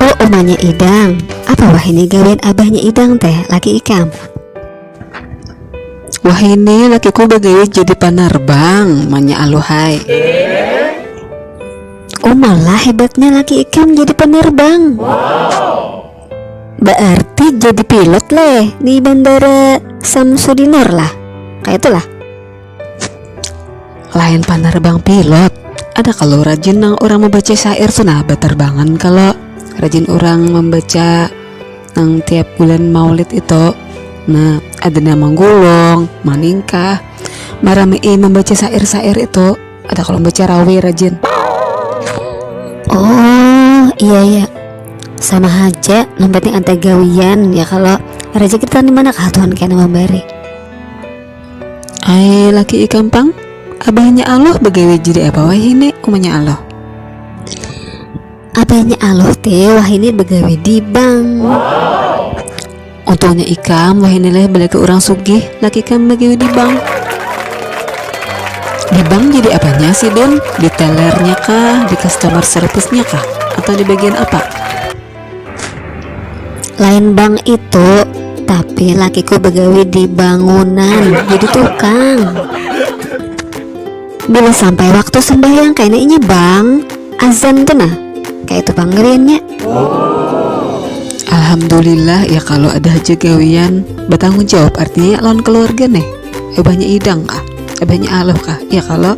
Oh umanya Idang, apa wah ini gawian abahnya Idang teh, laki ikam? Wah ini lakiku bagawi jadi panarbang, manya Aluhai. Oh malah hebatnya laki ikam jadi penerbang. Wow. Berarti jadi pilot leh di bandara Samsudinor lah. Kayak itulah. Lain panerbang pilot, ada kalo rajin nang urang membaca syair tu nah baterbangan kalo rajin urang membaca nang tiap bulan maulid itu nah ada nang manggulung, maningkah, marami'i membaca syair-syair itu ada kalo membaca rawi rajin. Oh iya iya sama haja nang penting ada gawian ya kalo rejeki kita dimana kah Tuhan kena memberi. Ai laki ikam pang, abahnya Aloh bagawi jadi apa wahini umanya Aloh? Abahnya Aloh teh wahini bagawi di bank. Untungnya ikam wahini leh balaki urang sugih, laki ikam bagawi di bank. Di bank jadi apanya si Dun? Di tellernya kah, di customer service-nya kah, atau di bagian apa? lain bang itu tapi lakiku begawi di bangunan jadi tukang bila sampai waktu sembahyang kayak ini bang azan tuh nah kayak itu pangeriannya Alhamdulillah ya kalau ada aja gawian bertanggung jawab artinya ya lawan keluarga nih eh banyak idang kah eh banyak aluh kah ya kalau